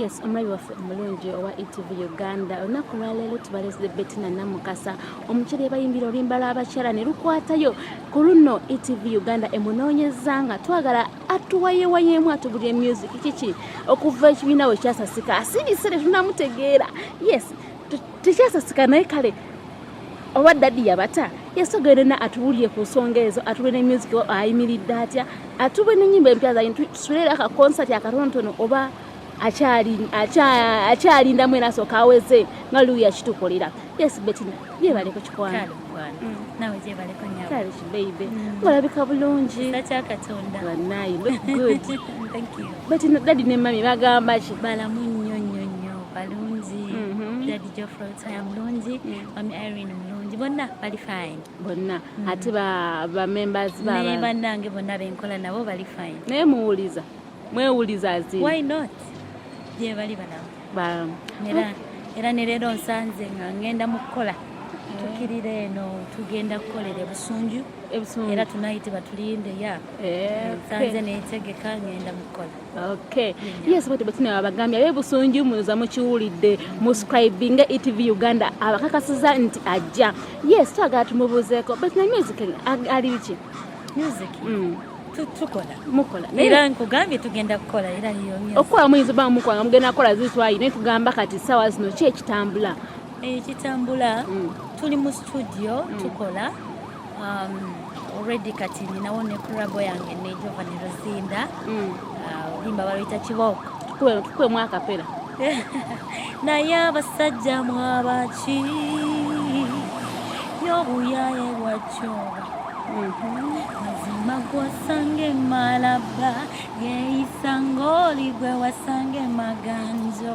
yes omulabi waffe omulungi owa etv uganda olunaku lwaleero tubalesde betina namukasa omukyere bayimbira oluyimba lwabakyala ne lukwatayo ku luno etv uganda emunoonyeza nga twagala atuwayewayeemu atubulire music kiki okuva ekibiina we kyasasika asirise tetunamutegeera yes tekyasasika naye kale oba dadi yabata yasogere na atubulire ku nsonga ezo atube ne music ayimiridde atya atube nenyimba empya zayi tusulera ka concert akatontono oba akyalinda mwena asooka aweze nga luuya kitukolera yes betina yebaleko kikwano olabika mm. bulungi banayi dadi ne mami bagamba ki balamunyo balungi mhm. dadi jofrey otaya mulungi mm. mami irene mulungi bonna bali fine bonna mm. ate bamembers naye bannange bonna benkola nabo bali fine naye muwuliza mwewuliza zi why not gye bali balamu balamu era ne leero nsanze nga ngenda mu kukola tukirira eno tugenda kukolera ebusunju era tunayiti batulinde ya eh, nsanze netegeka ngenda mukukola Okay. Yes, but but na abagambya be busungi munuza mukiwulidde muscribing ETV Uganda abakakasiza nti ajja. Yes, twagala tumubuzeeko but na music ali biki? Music. Mm. tukola mukola era nkugambye tugenda kukola era okukola muyinza oba mukola nga mugenda kukola zitwayi naye tugamba kati sawa zino ki ekitambula ekitambula mm. tuli mu studio mm. tukola um, already kati ninawo ne kurabo yange ne Giovanni Rosinda mm. uh, olimba uh, baluyita kiboko kwe mwaka pera naye abasajja mwabaki yobuyaye bwakyoba mazima mhm. gwosange malaba yeisa ngoli gwe wasange maganjo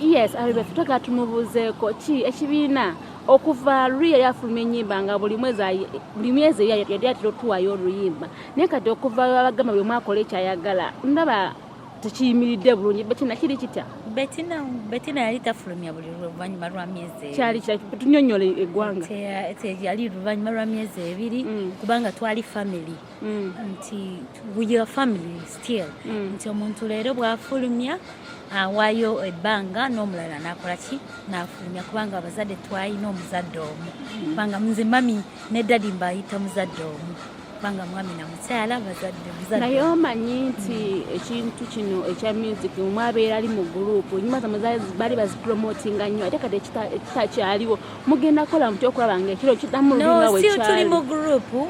yes abebefe twagala tumubuuzeeko ki ekibiina okuva luli yali afuluma enyimba nga buli mwezi yali atera otuwayo oluyimba naye kati okuva abagamba buli mwakola ekyayagala ndaba tekiyimiridde bulungi betina kiri kitya betina betina yali tafulumya buli luvanyuma lwa myezi kyali tunyonyola eggwanga yali luvanyuma lwa myezi ebiri mm. kubanga twali famiry mm. nti your family still mm. nti omuntu leero bwafulumya awaayo ebbanga n'omulala nakola ki nafulumya kubanga abazadde twalina omuzadde omu mm. kubanga nze mami ne dadi mbayita muzadde omu kubanga mwami na mukyala bazadde naye omanyi nti ekintu kino ekya music mwabeera ali mu gurupu nyuma zamwe bali bazipromotinga nnyo ate kati ekitakyaliwo mugenda kukola mutya okulaba nga ekiro kidamu lulunga wekyaali tuli mu gurupu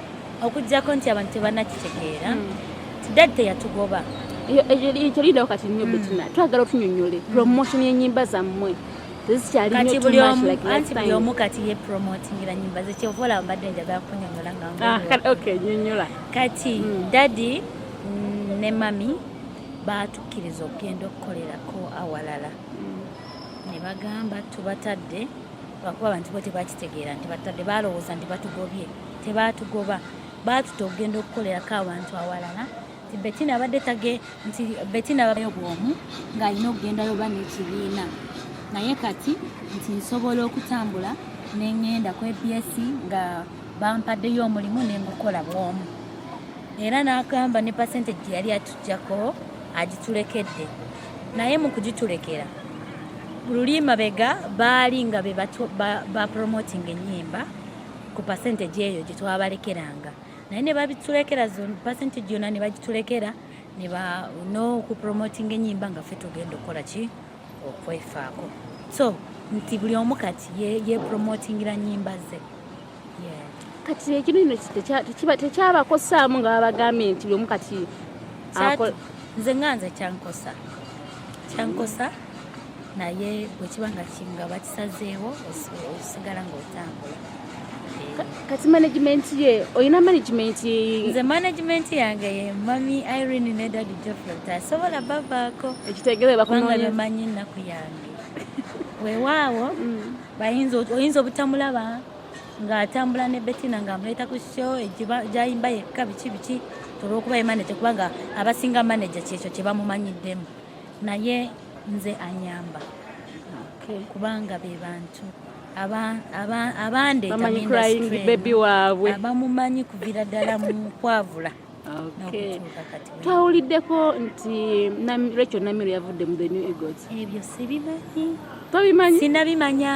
okujjako nti abantu tebanakitegeera hmm. tidadi teyatugoba ekyo lidawo kati nyo hmm. betina twagala otunyonyole hmm. promotion yenyimba zammwe kati buli omu kati ye promotingira nyimba ze kyova olaba mbadde njagala kunyonyola nganyonyola ah, kati dadi mm, ne mami baatukkiriza okugenda okukolerako awalala ne bagamba tubatadde lwakuba abantu bo tebakitegeera nti batadde balowooza nti batugobye tebaatugoba baatuta okugenda okukolerako abantu awalala nti betina abadde tage nti betina babayo bwomu ng'alina okugendayo oba n'ekibiina naye kati nti nsobola okutambula nengenda ku abs nga bampaddeyo omulimu nengukola bwomu era n'agamba ne pasente gye yali atujjako agitulekedde naye mu kugitulekera luli mabega baali nga bebapromotinga ennyimba ku percentage eyo gye twabalekeranga naye ne babitulekera percentage yona ne bagitulekera n'okupromotinga enyimba nga ffe tugenda okukola ki okwefaako so nti buli omu kati yepromotingira ye nyimba ze kati ekinu ino tekyabakosaamu nga babagambye nti buli omu kati nze nga nze kyankosa kyankosa naye bwe kiba nga kinga bakisazeewo osigala ng'otambula kati management ye olina management nze management yange ye mami irene ne dadi jofrot asobola bavaako ekitegerebakubanga bemanyi ennaku yange wewaawo mm. oyinza obutamulaba ng'atambula ne betina ng'amuleeta ku sho gyayimba yekka biki biki olwokuba ye manaje kubanga abasinga manaje kyekyo kye bamumanyiddemu naye nze anyamba kubanga be bantu abandebaby waabwe abamumanyi kuvira ddala mu kwavula twawuliddeko nti rachel namiro yavudde mu the new eagles ebyo sibimanyi tobimanyi sinabimanya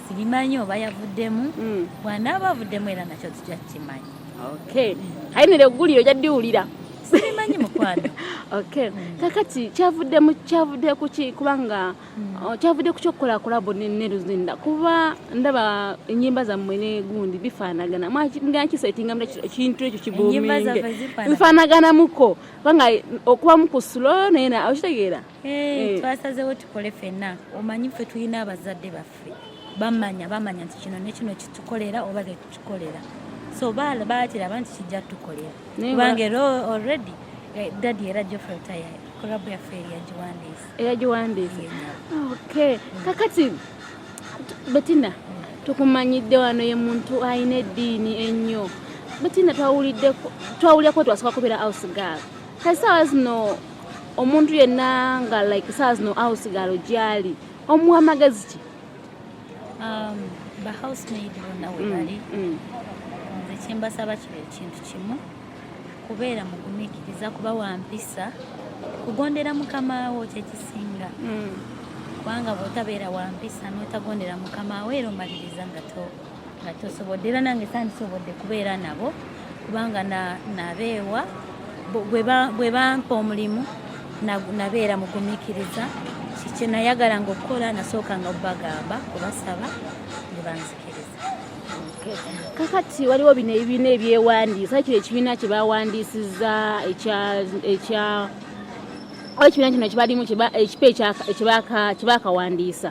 sibimanyi oba yavuddemu mm. bwanaaba avuddemu era nakyo tujja kukimanya okay hainire eggulire ojja ddiwulira sibimanyi mukwano okay mm. kakati kyavudde mu kyavudde kuki kubanga mm. oh, kyavudde ku kyokukola kulabo ne luzinda kuba ndaba enyimba zammwe ne gundi bifaanagana mwakisetinga mu ekintu ekyo kibuminge bifaanaganamuko kubanga okubamu ku sulo naye okitegeera Eh. twasazewo tukole fenna omanyi ffe tulina abazadde baffe bamanya bamanya nti kino nekino kitukolera oba tetukikolera so bakiraba nti kijja tukolera kubanga era already eh, dadi era jofrey taya kurabu yaffe eyagiwandiisa eyagiwandiisa okay kakati betina tukumanyidde wano ye muntu alina eddiini ennyo betina twawuliddeko twawulirako twasooka kubeera house girl kasaawa zino omuntu yenna nga like saa zino house galo gyali omuwa magezi ki um, ba housemaid bonna webali mm, mm. nze kyembasaba kiba ekintu kimu kubeera mugumikiriza kuba wampisa kugondera mukamawo kyekisinga mm. kubanga bwotabeera wampisa notagondera mukamawo era omaliriza nga to nga tosobodde era nange sandisobodde kubeera nabo kubanga nabeewa bwe bampa omulimu nabeera mugumikiriza kyenayagalanga okukola nasookanga okubagamba kubasaba nebanzikiriza kakati waliwo bino ebibiina ebyewandiisa kino ekibiina kyebawandiisiza ekya ekibiina kino kibalimu ekipa ekyebakawandiisa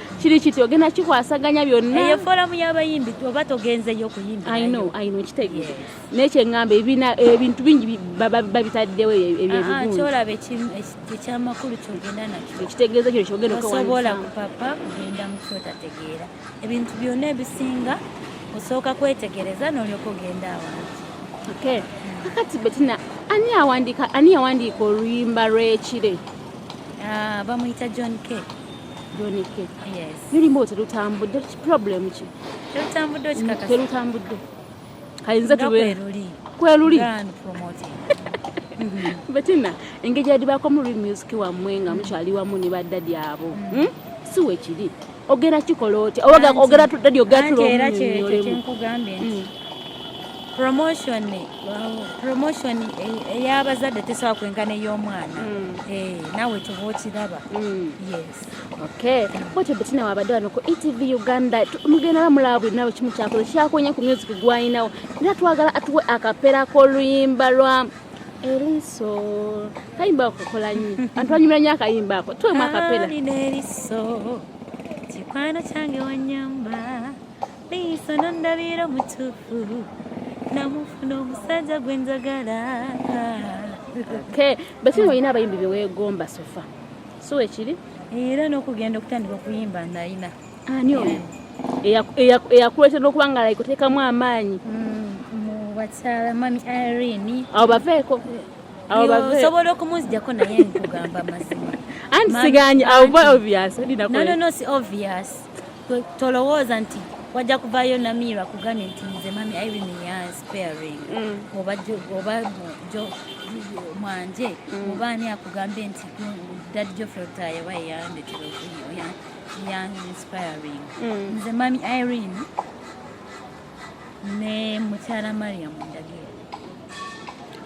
kiri kiti ogenda kikwasaganya byonna eyo foramu y'abayimbi oba togenzeyo okuyimbakitegeer naye kyeŋŋamba ebintu bingi babitaddewo ebyolaba ekyamakulu kyogenda nakyoekitegeeza kino kyogenda osobola kupapa kugenda mu kyotategeera ebintu byonna ebisinga osooka kwetegereza n'olyoka ogenda awantu kakati betina ani yawandiika oluyimba lw'ekire ah, bamuyita john k Donike. Yes. Lulimba otyo lutambudde problem ki? Terutambudde okikakasa. Mm, terutambudde. Kayinza tube. Kweruli. Kweruli. Grand promoting. Mm-hmm. Betina, engeri yadibaako mu real music wammwe nga mukyali wamu ne baddadi abo. Mm. Hmm? Si wekiri. Ogera kikola otya? Ogera tudadi ogera tulo. Era kye kyenkugambye nti. Mm. promotion promotion ey'abazadde eh, eh, tesobola kwenkana ey'omwana hmm. eh, naawe kyova okiraba hmm. yes okay bwekyo betina wabadde wano ku etv uganda mugenda bamulaba buli nawe kimu kyakoze kyakonye ku music gwalinawo era twagala atuwe akapera k'oluyimba lwa eriso kayimba okukola nyo antu anyumira nyo akayimba ako tuwemu akapera eriso kikwano kyange wanyamba miiso nondabira omutuufu namufuna omusajja gwe njagala bakiri olina abayimbi beweegomba sofa si wekiri era n'okugenda okutandika okuyimba nalina ani oyo eyakuleeta n'okuba nga like oteekamu amaanyi mm, mu bakyala mami irene awo baveeko osobola okumuzijako naye nkugamba amazima anti siganye awo obvious no no no si obvious tolowooza nti wajja kuvayo namiirwa kugambye nti nze mami irene ya sparing mm. oba jo mwanje mm. oba ani akugambye nti dad jofre otayewa eyandetera okuyo ya inspiring mm. nze mami irene ne mukyala mariam ndagire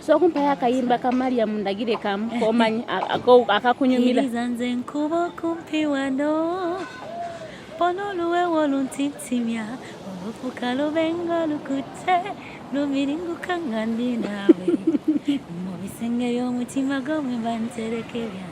so kumpayo akayimba ka mariam ndagire kamu komanyi akakunyumira iriza nze nkuba okumpi wano pona oluwewo oluntintimya olufuka lubenga lukutte lumiringuka nga ndi naawe mu bisenge by'omutima gwo mwe bantereke byange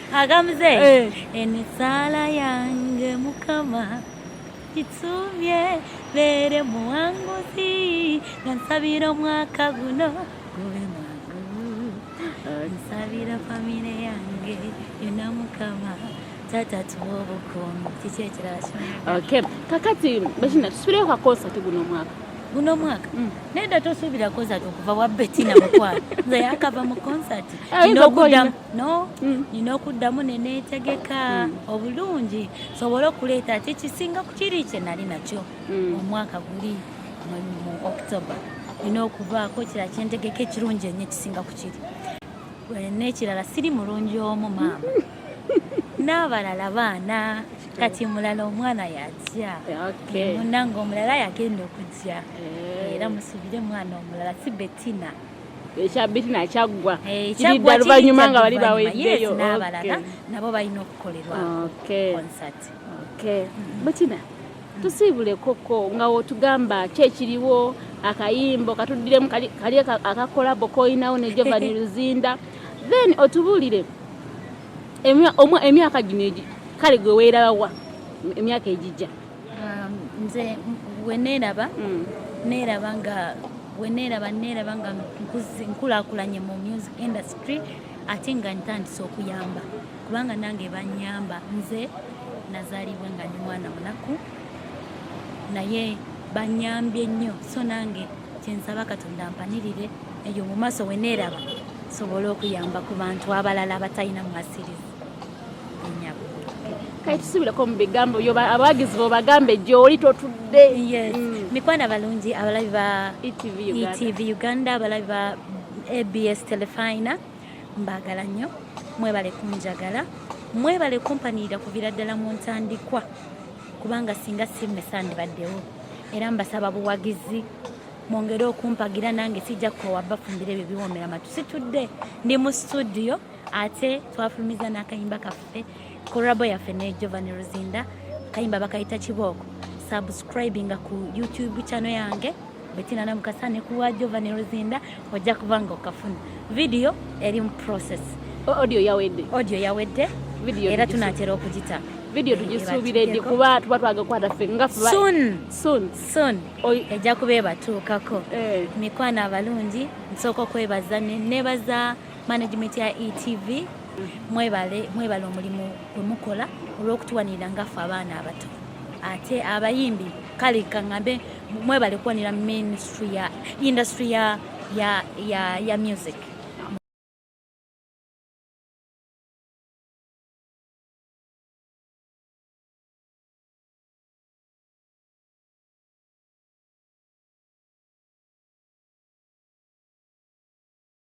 akamuze eh. emisaala yange mukama itsumye bere muwanguzi nansabira omwaka guno gube mwangu nsabira famire yange yona mukama tata tuwa obukuumi kiki ekirala okay kakati bakina tusubireyo ka konsati guno omwaka guno omwaka mm. naye da tosuubira konsati okuva wa betina mukwano nze yakava mu konsati eh, nokudamu no mm. nina okuddamu neneetegeka mm. obulungi sobole okuleeta ati ekisinga kukiri kye nali nakyo mm. omwaka guli mu october nina okubaako ekirala kyentegeka ekirungi enyo ekisinga kukiri nekirala siri mulungi omu maama n'abalala baana kati mulala omwana yajja munange omulala yagenda okujja eh. era musubire mwana omulala si betina ekya bitina kyaggwa eh, kiridda luvannyuma nga bali baweddeyo n'abalala nabo balina okukolerwa concert mm-hmm. bitina tusiibulekoko nga wotugamba ki ekiriwo akayimbo katuddiremu kali akakolabo koyinawo ne jovani luzinda then otubuulire emyaka gino kale gwe weerabawa emyaka egijja um, nze weneeraba mm. neeraba nga weneeraba neeraba nga nkulakulanye mu music industry ate nga ntandise okuyamba kubanga nange banyamba nze nazaalibwa nga ndi mwana munaku naye banyambye nnyo so nange kyensaba katonda mpanirire eyo mu maaso weneeraba sobole okuyamba ku bantu abalala abatalina mwasirizi kati tusubireko mu bigambo abawagizi bo bagambe gyoli totudde mm. mikwano abalungi abalabi ba etv e uganda abalabi ba abs telefina mbagala nnyo mwebale kunjagala mwebale kumpanirira kuvira ddala mu ntandikwa kubanga singa simmesandibaddewo era mbasaba buwagizi mwongere okumpagira nange sijja kukowa bafumbire ebyo biwomera matu situdde ndi mu situdiyo ate twafulumiza n'akayimba kaffe korabo yaffe ne jovani ruzinda akayimba bakayita kibooko subscribinga ku youtube channel yange betina namukasa ne kuwa jovani ruzinda ojja kuba nga okafuna vidiyo eri mu process audio yawedde audio yawedde era tunatera okugita vidiyo tugisuubiredde kuba tuba twaga kukwata ffe nga ejja kuba ebatuukako eh. mikwano abalungi nsooka okwebaza nebaza management ya etv mwebale mwebale omulimu gwe mukola olw'okutuwanirira ngaffe abaana abato ate abayimbi kale kaŋambe mwebale kuwanira ministry ya industry ya, ya, ya, ya music